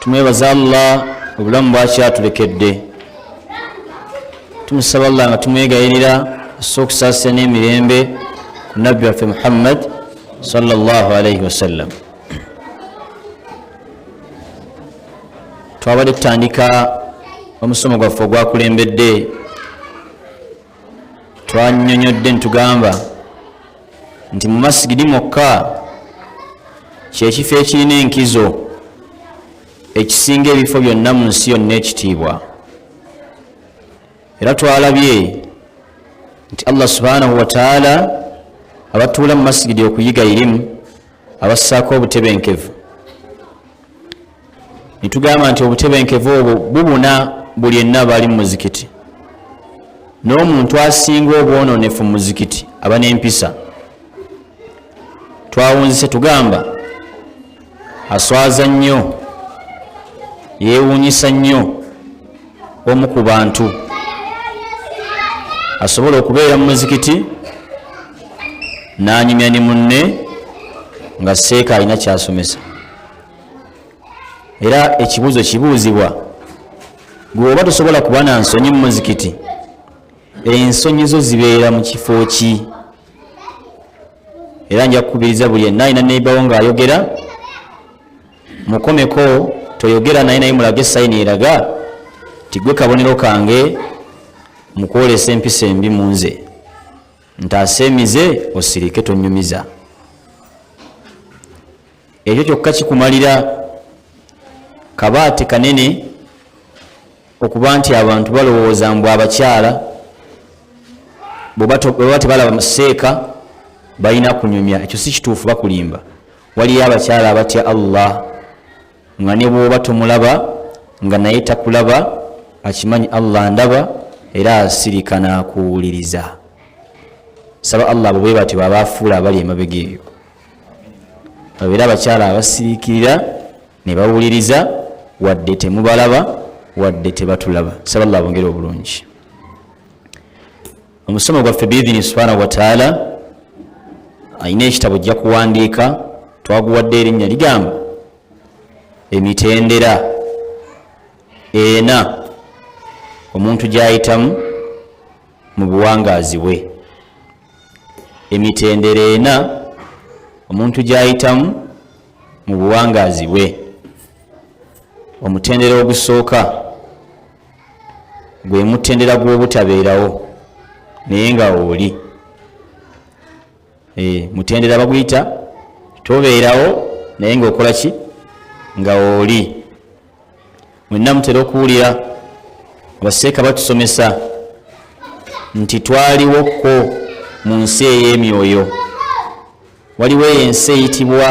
tumwebaza allah obulamu bwakyatulekedde tumusaba allah nga tumwegayirira asa okusaasira n'emirembe ku nabbi waffe muhammad salllah alaihi wasallam twabadde tutandika omusomo gwaffe ogwakulembedde twanyonyodde ntugamba nti mu masigidi mwokka kyekifo ekirina enkizo ekisinga ebifo byonna mu nsi yonna ekitiibwa era twalabye nti allah subhanahu wataala abatuula mu masigidi okuyiga irimu abassaako obutebenkevu netugamba nti obutebenkevu obwo bubuna buli enna bali mu muzikiti n'omuntu asinga obwononefu mu muzikiti aba n'empisa twawunzise tugamba aswaza nnyo yeewuunyisa nnyo omu ku bantu asobola okubeera mu muzikiti n'anyumya ne munne nga seeka alina kyasomesa era ekibuuzo kibuuzibwa gwe oba tosobola kuba na nsonyi mu muzikiti ensonyi zo zibeera mu kifo ki era nja kukubiriza buli enna alina neibawo ng'ayogera mukomeko toyogera naye naye mulage sayini eraga tigwe kabonero kange mukwolesa empisa embi munze ntaase emize osirike tonyumiza ekyo kyokka kikumalira kabaati kanene okuba nti abantu balowooza mbu abakyala bweba tebalaba seeka balina kunyumya ekyo si kituufu bakulimba waliyo abakyala abatya allah nga ne bwoba tomulaba nga naye takulaba akimanyi allah ndaba era asirika nakuwuliriza saba allah abo bwe batyo babaafuula abali emabega eyo babeera abakyala abasirikirira ne bawuliriza wadde temubalaba wadde tebatulaba saba allah bongere obulungi omusomo gwaffe biidhini subhanahu wataala alina ekitabo ojja kuwandiika twaguwadde erinnya ligamba emitendera ena omuntu gyayitamu mu buwangaazi bwe emitendera ena omuntu gyayitamu mu buwangaazi bwe omutendera ogusooka gwe mutendera gw'obutabeerawo naye nga oli eh, mutendera baguyita tobeerawo naye nga okola ki nga oli mwenna mutera okuwulira abaseeka batusomesa nti twaliwokko mu nsi ey'emyoyo waliwo eyo ensi eyitibwa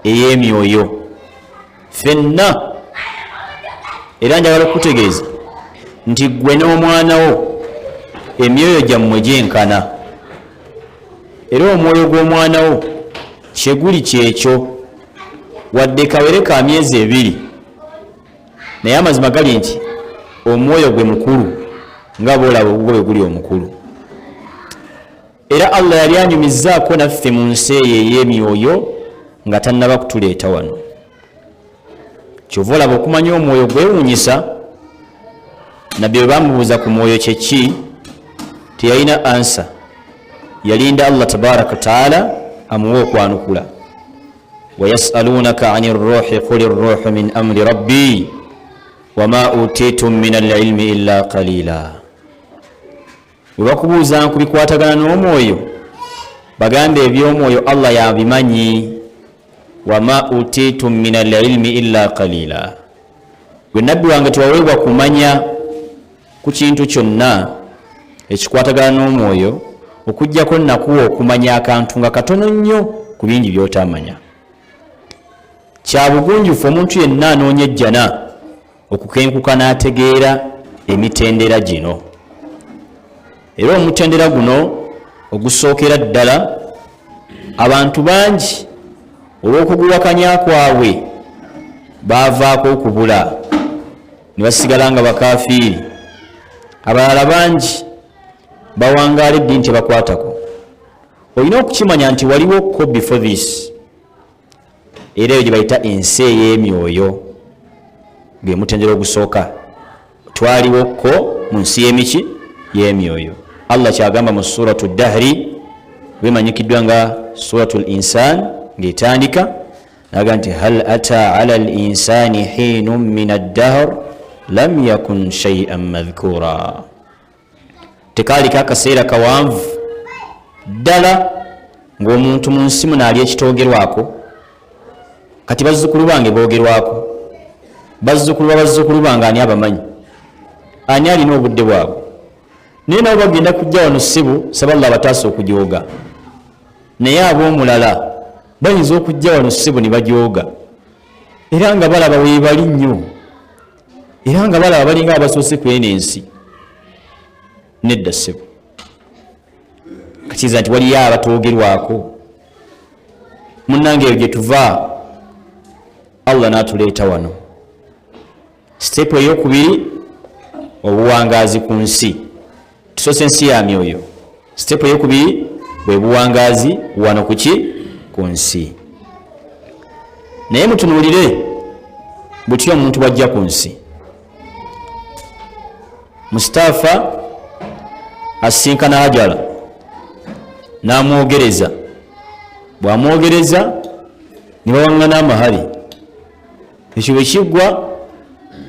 ey'emyoyo fenna era njagala okukutegeeza nti ggwe n'omwana wo emyoyo gyammwe gyenkana era omwoyo gw'omwana wo kyeguli kyekyo wadde kawere ka myezi ebiri naye amazima gali nti omwoyo gwe mukulu nga boolaba ogugwo bwe guli omukulu era allah yali anyumizzaako naffe mu nsi eyo ey'emyoyo nga tannaba kutuleeta wano kyova olaba okumanya omwoyo gwewunyisa nabbi bwe bamubuuza ku mwoyo kyeki teyalina ansa yalinda allah tabaraka wataala amuwa okwanukula wayasalunaka ani ruhi kuli ruhu min amri rabbi wama utitum min alilmi illa qalila webakubuuza ku bikwatagana n'omwoyo bagamba eby'omwoyo allah yabimanyi wama utitum min alilmi illa kalila gwe nabbi wange tewaweebwa kumanya ku kintu kyonna ekikwatagana n'omwoyo okujjako nakuwa okumanya akantu nga katono nnyo ku bingi byotamanya kyabugunjufu omuntu yenna anoonya ejjana okukenkuka n'ategeera emitendera gino era omutendera guno ogusookera ddala abantu bangi olw'okuguwakanya kwabwe baavaako okubula ne basigala nga bakafiiri abalala bangi bawangaala eddiini tebakwatako olina okukimanya nti waliwo ko before this era eyo gyebayita ensi ey'emyoyo gwe mutendera ogusooka twaliwo ko mu nsi y'emiki y'emyoyo allah kyagamba mu suratu dahri wemanyikiddwa nga suratu l insan ng'etandika naga nti hal ata ala l insani hiinu min addahr lam yakun shaian madhkura tekaaliko akaseera kawanvu ddala ng'omuntu mu nsi muno ali ekitoogerwako kati bazzukulu bange boogerwako bazzukulu ba bazzukulu bange ani abamanyi ani alina obudde bwabwe naye nabo bagenda kujja wano ssibu saballa abataasa okujooga naye ab'omulala bayinza okujja wano ssibu ne bajooga era nga balaba weebali nnyo era nga balaba balinga abasoose ku eno ensi nedda ssebo kakiriza nti waliyo abatoogerwako munnange eyo gye tuva allah n'atuleeta wano sitepu ey'okubiri obuwangaazi ku nsi tusoose ensi ya myoyo sitepu eyokubiri bwe buwangaazi wano kuki ku nsi naye mutunuulire butya omuntu bwajja ku nsi mustaafa asisinkana hajala n'amwogereza bw'amwogereza ne bawaŋŋana amahali ekyo bwe kiggwa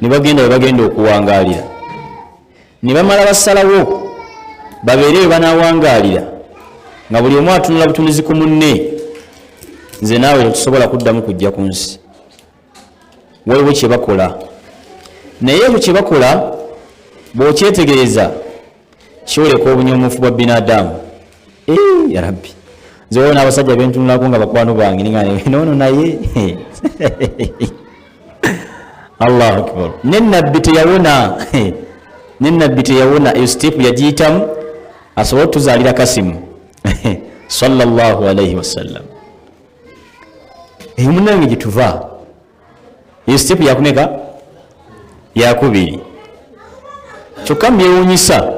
ne bagenda we bagenda okuwangaalira ne bamala basalawo babeere bwe banawangaalira nga buli omu atunula butunuzi ku munne nze naawe tetusobola kuddamu kujja ku nsi waliwo kye bakola naye ekyo kye bakola bw'okyetegereza kyoleka obunyomufu bwa binadamu ya rabbi nze waliwo n'abasajja bentunulako nga bakwano bange ninga noono naye allahu akbar ne nabbi teyawona ne nabbi teyawona eyo siteepu yagiyitamu asobole otuzaalira kasimu sallallahu alaihi wasallam eyo munange gyetuva eyo sitepu yakumeka yakubiri kyokka mubyewunyisa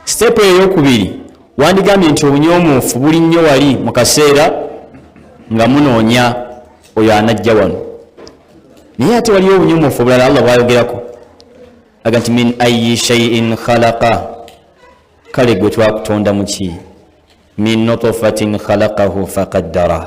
sitepu eyokubiri wandigambye nti obunyomuufu buli nnyo wali mu kaseera nga munoonya oyo anajja wano naye ate waliyo obunyomuufu obulala allah bwayogerako aga nti min ayi shaiin khalaqa kale gwe twakutonda muki min nutufatin khalaqahu faqaddara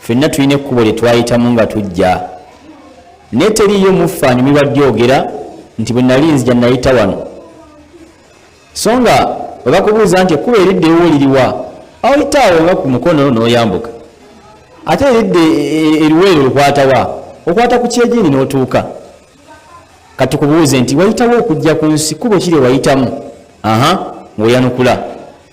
fenna tulina ekkubo lye twayitamu nga tujja naye teriiyo muffe anyumirwa dyogera nti bwe nali nzija nayita wano so nga bwe bakubuuza nti ekkubo eridde ewo liriwa awayita awo nga ku mukono n'oyambuka ate eridde e, e, eriweero lukwatawa okwata ku kyegini n'otuuka katukubuuze nti wayitawo okujja ku nsi kubo kiri wayitamu aha ngaoyanukula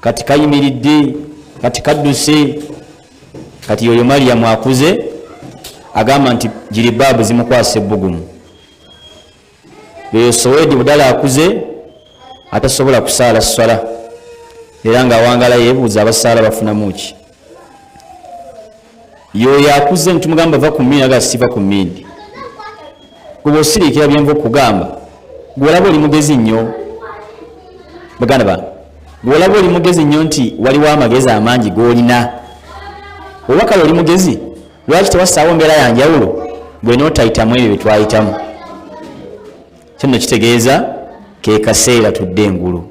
kati kayimiridde kati kadduse kati yoyo maliyamu akuze agamba nti jiribaabu zimukwasa ebbugumu yoyo sowedi budala akuze atasobola kusaala swala era nga awangala yebuuza abasaala bafunamu ki yoyo akuze nitumugamba va ku mini aga siva ku mini kuba osirikira byenva okugamba gwolaba oli mugezi nnyo baganda ba gwolaba oli mugezi nnyo nti waliwo amagezi amangi golina oba kale oli mugezi lwaki tewasaawo mbeera yanjawulo gwe notayitamu ebyo byetwayitamu kino kitegeeza kekaseera tudde engulu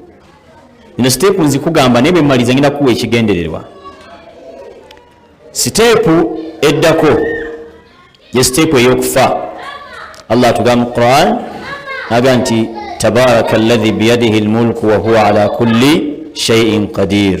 ino siteepu nzikugamba naye bwemmaliza ngenda kuwa ekigendererwa siteepu eddako ye siteepu ey'okufa allah atugamba mu quran aga nti tabaraka allahi biyadihi lmulku wahuwa ala kulli shaiin qadir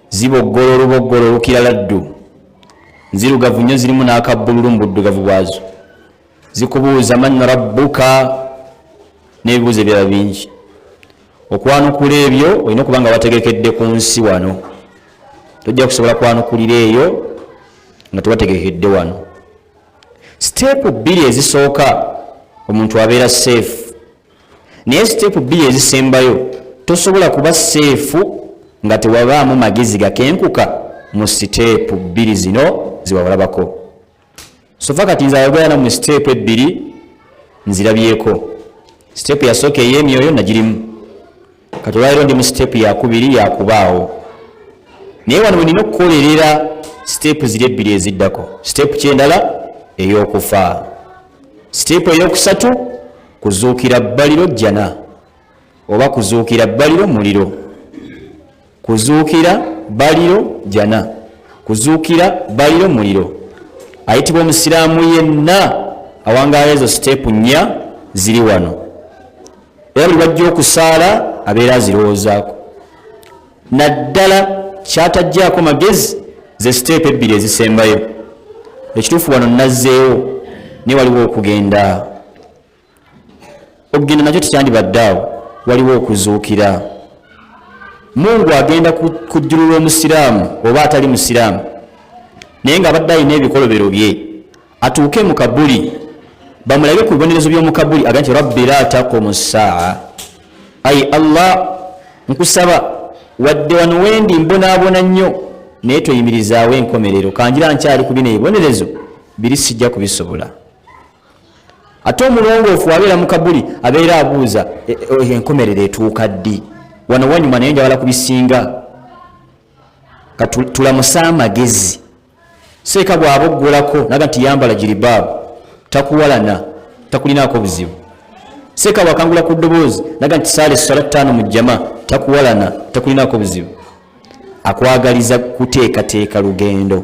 ziboggolo oluboggolo olukira laddu nzirugavu nnyo zirimu n'akabbululu mu buddugavu bwazo zikubuuza man rabbuka n'ebibuuzo ebirala bingi okwanukula ebyo olina okuba nga wategekedde ku nsi wano tojja kusobola kwanukulira eyo nga tewategekedde wano siteepu bbiri ezisooka omuntu abeera seefu naye siteepu bbiri ezisembayo tosobola kuba seefu nga tewabaamu magezi gakenkuka mu siteepu bbiri zino zewawalabako sofa kati nze ayogera namu siteepu ebbiri nzirabyeko siteepu yasooka ey'emyoyo nagirimu kati olwaliro ndi mu siteepu yakubiri yakubaawo naye wano wenina okukolerera siteepu ziri ebbiri eziddako siteepu kyendala eyokufa siteepu eyokusatu kuzuukira bbaliro jjana oba kuzuukira bbaliro muliro kuzuukira baliro jana kuzuukira baliro muliro ayitibwa omusiraamu yenna awangaala ezo siteepu nnya ziri wano era buli bajja okusaala abeera azirowoozaako naddala kyatajjaako magezi ze siteepu ebbiri ezisembayo ekituufu wano nazzeewo naye waliwo okugenda okugenda nakyo tekyandibadde awo waliwo okuzuukira mungu agenda kujjulula omusiraamu oba atali musiraamu naye nga abadde alina ebikolobero bye atuuke mu kabuli bamulabe ku bibonerezo by'omu kabuli aga nti rabbi la taqumu ssaa ayi allah nkusaba wadde wano wendi mbonaabona nnyo naye toyimirizaawo enkomerero kanjira nkyali ku bino ebibonerezo biri sijja kubisobola ate omulongoofu abeera mu kabuli abeera abuuza e, e, enkomerero etuuka ddi wano wanyuma naye njagala ku bisinga katulamusa amagezi seeka bwaba oggulako naga nti yambala jiribaabu takuwalana takulinaako buzibu seeka bwakangula ku ddoboozi naga nti saala essala ttaano mu jjama takuwalana takulinaako buzibu akwagaliza kuteekateeka lugendo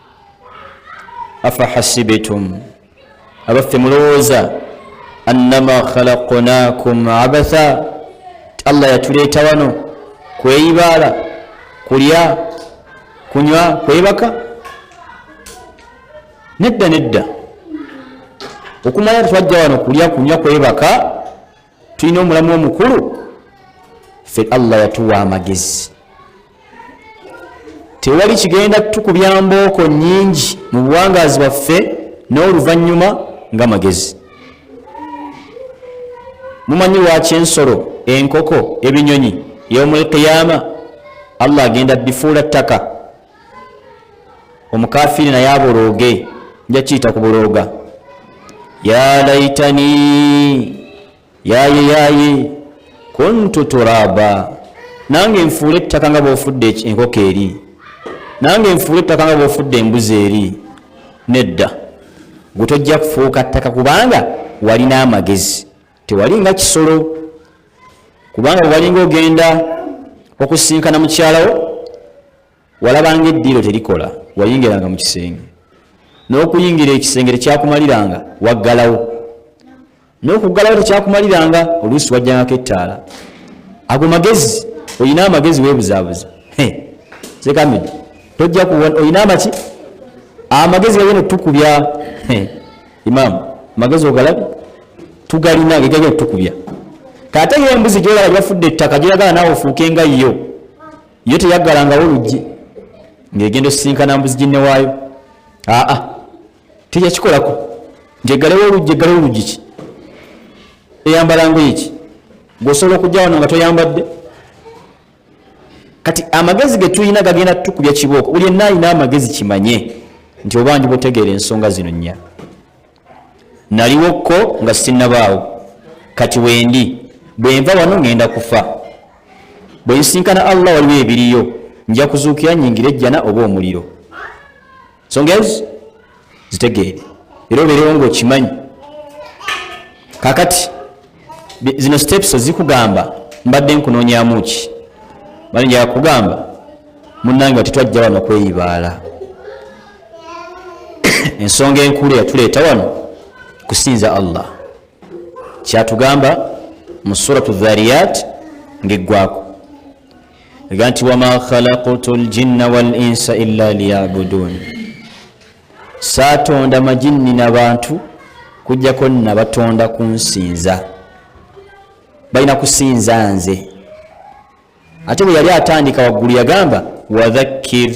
afahasibitum abaffe mulowooza annama khalaqnakum abatha ti allah yatuleeta wano kweyibaala kulya kunywa kwebaka nedda nedda okumanya tetwajja wano kulya kunywa kwebaka tulina omulamu omukulu fe allah yatuwa amagezi tewali kigenda tukubya mbooko nyingi mu buwangazi bwaffe n'oluvannyuma nga magezi mumanyi lwaki ensolo enkoko ebinyonyi yomulkiyama allah agenda bifuula ttaka omukafiiri naye abolooge nja kiyita ku bulooga ya laitani yaye yaye kuntu turaba nange nfuula ettaka nga bwofudde enkoko eri nange nfuula ettaka nga bwofudde embuzi eri nedda gwe tojja kufuuka ttaka kubanga walina amagezi tewali nga kisolo kubanga bwewalinga ogenda okusinkana mukyalawo walabanga eddiiro terikola wayingiranga mu kisenge n'okuyingira ekisenge tekyakumaliranga waggalawo n'okuggalawo tekyakumaliranga oluusi wajjangako ettaala ago magezi olina amagezi weebuzaabuza sekamid tojja kuwa olina amaki amagezi gagenda otukubya imam magezi ogalabi tugalina gegagenda tukubya kaate yo embuzi gyolaba gyafudde ettaka gyeyagala naawe ofuuke nga yo yo teyaggalangawo oluggi ng'egenda osisinkana mbuzi ginne waayo aa teyakikolako nti eggalewo oluggi eggalewo oluggi ki eyambala ngoye ki gweosobola okujja wano nga toyambadde kati amagezi getulina gagenda tukubya kibooko buli enna alina amagezi kimanye nti oba ndi butegeera ensonga zino nnya naliwokko nga sinnabaawo kati wendi bwenva wano ŋŋenda kufa bwe nsinkana allah waliwo ebiriyo nja kuzuukira nyingira ejjana oba omuliro ensonga ezo zitegeere era obeerewo ngaokimanyi kakati zino steps zikugamba mbadde nkunoonyamu ki bali njakugamba munange ati twajja wano kweyibaala ensonga enkulu eyatuleeta wano kusinza allah kyatugamba mu suratu dhariyat ngaeggwako ega nti wama khalaqtu ljinna wal insa illa liyabuduun saatonda majinni na bantu kujjako nabatonda kunsinza balina kusinza nze ate bwe yali atandika waggulu yagamba wadhakkir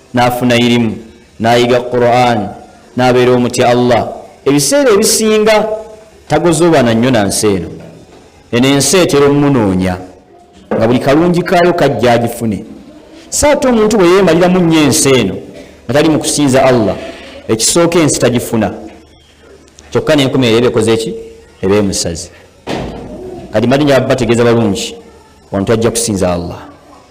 n'afuna irimu n'ayiga quran n'abeera omutya allah ebiseera ebisinga tagozoobana nnyo na nsi eno eno ensi etera omumunoonya nga buli kalungi kaayo kajja agifune so ate omuntu bwe yeemaliramu nnyo ensi eno nga tali mu kusinza allah ekisooka ensi tagifuna kyokka nenkumi eyo ebekoze ki eba emusazi kati madi njababategeeza balungi wantu ajja kusinza allah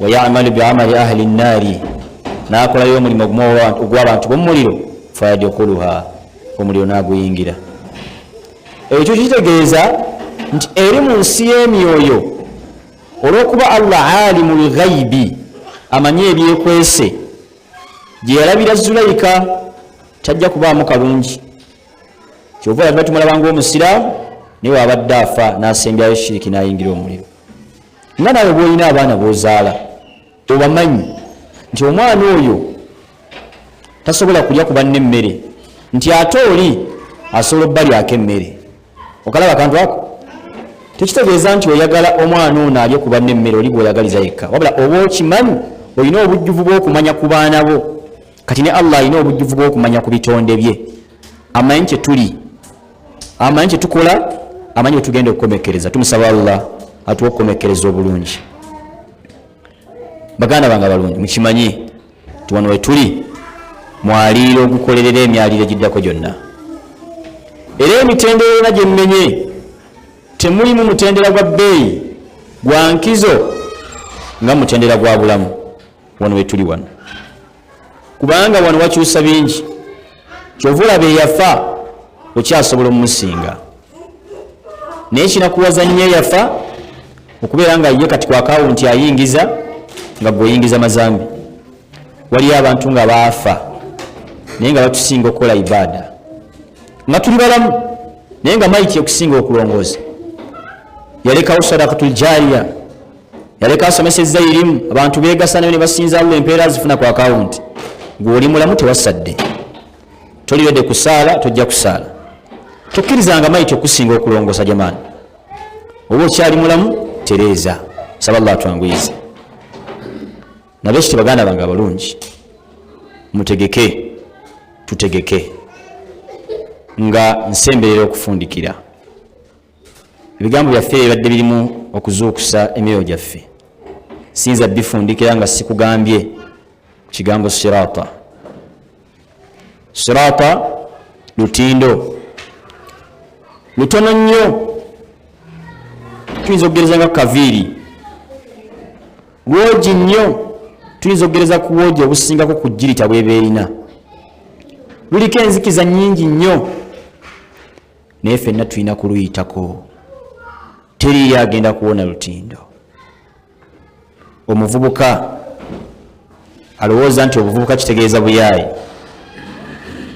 wayamalu biamali ahli nnaari n'akolayo omulimu ogw'abantu b'omumuliro fayadukuluha omuliro n'aguyingira ekyo kitegeeza nti eri mu nsi y'emyoyo olw'okuba allah alimu lghaibi amanyi ebyekwese gye yalabira zulayika tajja kubaamu kalungi kyova olabira tumulabanga omusiraamu naye waabadde afa n'asembyayo shiriki n'ayingira omuliro nga nawe bwolina abaana bozaala obamanyi nti omwana oyo tasobola kulya kubanna emmere nti ate oli asobola obalyako emmere okalaba akantu ako tekitegeeza nti oyagala omwana ono alye kubanna emmere oli bwoyagaliza yekka wabula oba okimanyi olina obujjuvu bwokumanya ku baana bo kati ne allah alina obujjuvu bwokumanya ku bitonde bye amanyi kyetuli amanyi kyetukola amanyi wetugenda okukomekereza tumusaba allah atuwa okukomekereza obulungi baganda bange balungi mukimanyi ti wano wetuli mwaliiro ogukolerera emyaliiro egiddako gyonna era emitendera yona gyemmenye temulimu mutendera gwa bbeeyi gwa nkizo nga mutendera gwa bulamu wano wetuli wano kubanga wano wakyusa bingi kyova olaba eyafa okyasobola omumusinga naye kinakuwaza nnyo eyafa okubeera nga ye kati kwakaawo nti ayingiza nga gweoyingiza mazambi waliyo abantu nga baafa naye nga batusinga okukola ibaada nga tuli balamu naye nga maiti okusinga okulongooza yalekawo sadakatu ljariya yaleka asomesezza irimu abantu begasa nayo nebasinza allah empeera zifuna ku akawunti gweoli mulamu tewasadde tolirede kusaala tojja kusaala tokkirizanga maiti okusinga okulongosa jamaani oba okyali mulamu tereeza saba llah twanguyize nabe kiti baganda bange abalungi mutegeke tutegeke nga nsemberera okufundikira ebigambo byaffe bibadde birimu okuzuukusa emyoyo gyaffe siyinza bifundikira nga sikugambye kigambo sirata sirata lutindo lutono nnyo tuyinza okugereza nga kaviiri lwogi nnyo tuyinza okugereza ku bwogi obusingako ku jirita bweba erina luliko enzikiza nyingi nnyo naye fenna tulina kuluyitako teriyo agenda kuwona lutindo omuvubuka alowooza nti obuvubuka kitegeeza buyaayi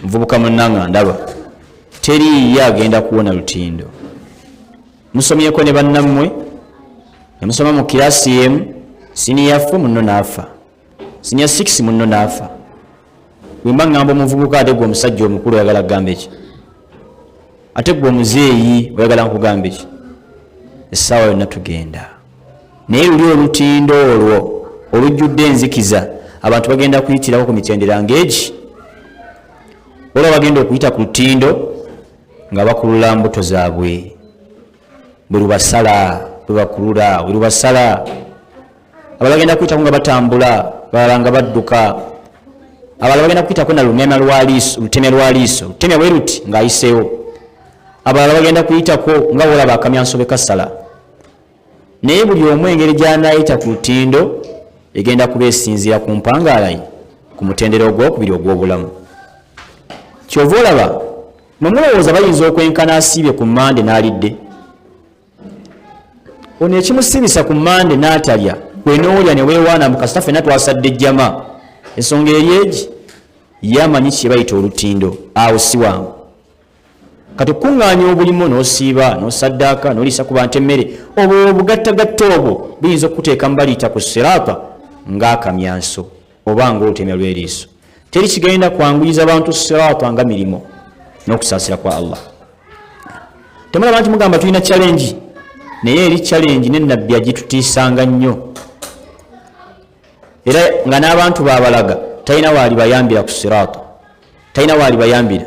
muvubuka munanga ndaba teriyo agenda kuwona lutindo musomyeko ne bannammwe nemusoma mu kirasi emu siniyafu munno naafa sinya 6 munno naafa wemba ngamba omuvubuka ate gwe omusajja omukulu oyagala kugamba eki ate gwe omuzeeyi oyagala nkugamba eki essaawa yonna tugenda naye luli olutindo olwo olujjudde enzikiza abantu bagenda kuyitirako ku mitendera ngaegi olwa bagenda okuyita ku lutindo nga bakulula mbuto zaabwe bwe lubasala bwe bakulula bwe lubasala abala bagenda kuyitako nga batambula balala nga badduka abala bagenda kuyitako na lunema lwaliiso lutemya lwaliiso lutemya bwe luti ng'ayiseewo abalala bagenda kuyitako nga wolaba akamyanso be kasala naye buli omu engeri gy'anaayita ku lutindo egenda kuba esinziira ku mpangaalaye ku mutendera ogwokubiri ogw'obulamu kyova olaba nomulowooza bayinza okwenkana asiibye ku mande n'alidde ono ekimusibisa ku mande natalya kwenoolya newewaana mukasita fena twasadde jama ensonga eri egi yamanyi kyebayita olutindo awo siwangu kati okukuŋŋaanya obulimu n'osiiba n'osaddaaka n'oliisa ku bantu emmere obwo obugattagatta obwo buyinza okukuteeka mu baliita ku siraata ng'akamyanso oba nga olutemya lw'eriiso teri kigenda kwanguyiza bantu siraata nga mirimu n'okusaasira kwa allah temulaba nti mugamba tulina challenge naye eri challenge ne nabbi agitutiisanga nnyo era nga n'abantu babalaga talina waali bayambira ku siraata talina waali bayambira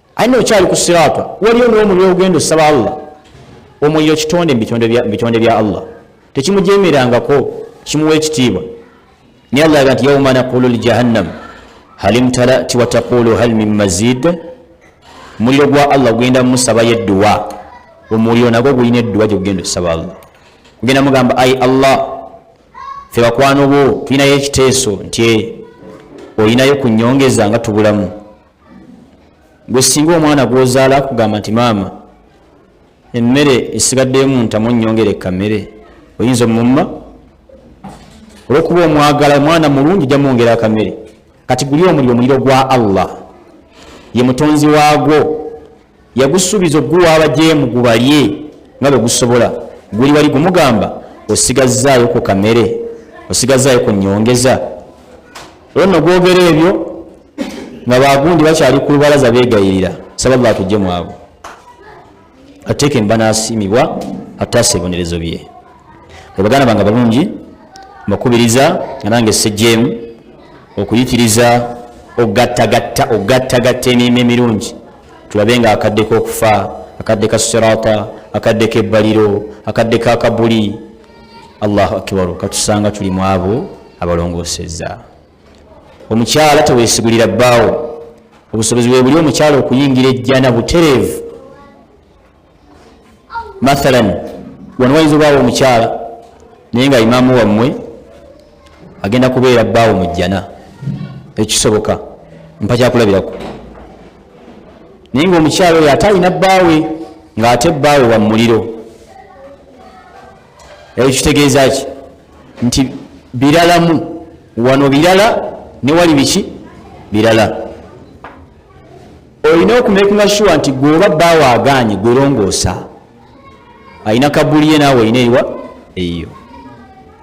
aina okyali ku sirata waliyo nomuliro ogenda osaba allah omuliro kitonde mubitonde bya allah tekimujemerangako kimuwa ekitiibwa naye allah aga nti yauma naqulu ljahannam halimtalati wataqulu hal min mazid muliro gwa allah gugenda musabayo edduwa omuliro nagwo gulina edduwa gyegugenda osaba allah gugenda mugamba ai allah fe bakwano bo tulinayo ekiteeso nti olinayo ku nyongeza nga tubulamu gwe singa omwana gwozaala akugamba nti maama emmere esigaddeemu ntamu nyongere kamere oyinza omumma olwokuba omwagala omwana mulungi jamwongera akamere kati guli omuli omuliro gwa allah ye mutonzi waagwo yagusuubiza okuguwa abajeemu gubalye nga bwe gusobola guli wali gumugamba osigazzaayo ku kamere osigazzaayo ku nyongeza olwo no gwogera ebyo nga bagundi bakyali ku lubalaza beegayirira saba llah tujje mwabo ateeke mbanasiimibwa ataasa ebonerezo bye ebaganda bange balungi mbakubiriza nga nange sejjeemu okuyitiriza okugattagatta okugattagatta emirimu emirungi tulabe nga akadde kokufa akadde ka sirata akadde kebbaliro akadde ka kabuli allahu akibaru katusanga tuli mu abo abalongoseza omukyala tewesigulira bbaawo obusobozi webuli omukyala okuyingira ejjana butereevu mathalan wano wayinza obaawo omukyala naye nga imaamu wammwe agenda kubeera bbaawo mu jjana ekisoboka mpa kyakulabirako naye nga omukyalo oyo ate alina bbaawe ng'ate bbaawe wa muliro eyo kitegeeza ki nti biralamu wano birala ne wali biki birala olina okumekinga shuwa nti gweoba bbaawo agaanye gwelongoosa alina kabuli ye naawe olina eriwa eyiyo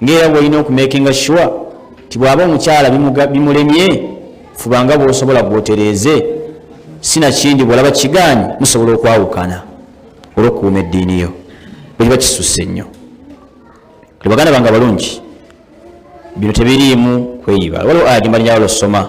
ngaera bwolina okumekinga shuwa ti bwaba omukyala bimulemye fubanga bwosobola gwotereeze sinakindi bwolaba kigaanyi musobola okwawukana olwokukuuma eddiini yo bwekiba kisusse nnyo baganda bange abalungi bino tebiriimu kweyiba waliwo aya gimba nyawala osoma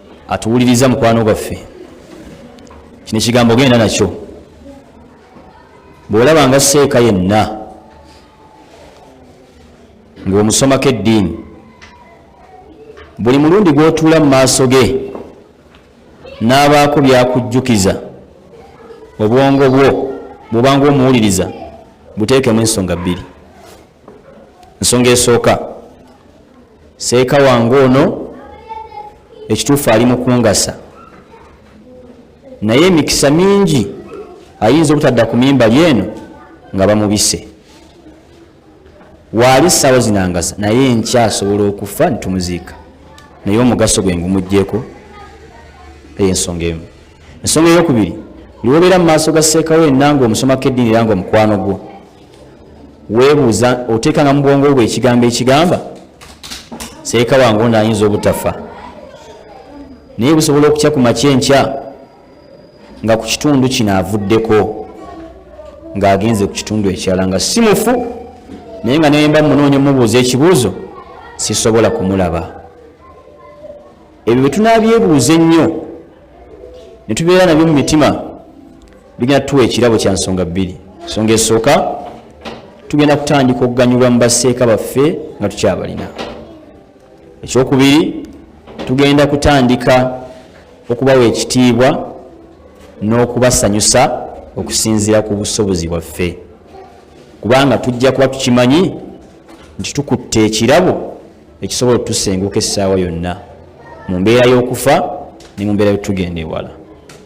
atuwuliriza mukwano gwaffe kino ekigambo genda nakyo bw'olaba nga seeka yenna ng'omusomako eddiini buli mulundi gw'otuula mu maaso ge n'abaako byakujjukiza obwongo bwo bwobanga omuwuliriza buteekemu ensonga bbiri ensonga esooka seeka wange ono ekituufu ali mukungasa naye emikisa mingi ayinza obutadda ku mimbali eno nga bamubise waali saawa zinangasa naye nkyasobola okufa nitumuziika naye omugaso gwe ngumugjeko eyo ensonga emu ensonga eyokubiri lwobeera mu maaso ga seekawo enanga omusomako eddiini era nga omukwano gwo weebuuza oteekanga mu bwongo bwe ekigambo ekigamba seeka wange ono ayinza obutafa naye busobola okutya ku makya enkya nga ku kitundu kino avuddeko ng'agenze ku kitundu ekirala nga si mufu naye nga neyemba munoonya omubuuza ekibuuzo sisobola kumulaba ebyo bwe tunabyebuuza ennyo ne tubeera nabyo mu mitima bigenda tuwa ekirabo kya nsonga bbiri ensonga esooka tugenda kutandika okuganyulwa mu baseeka baffe nga tukyabalina ekyokubiri tugenda kutandika okubawa ekitiibwa n'okubasanyusa okusinziira ku busobozi bwaffe kubanga tujja kuba tukimanyi nti tukutte ekirabo ekisobola okutusenguka essaawa yonna mu mbeera y'okufa ne mu mbeera yotugenda ewala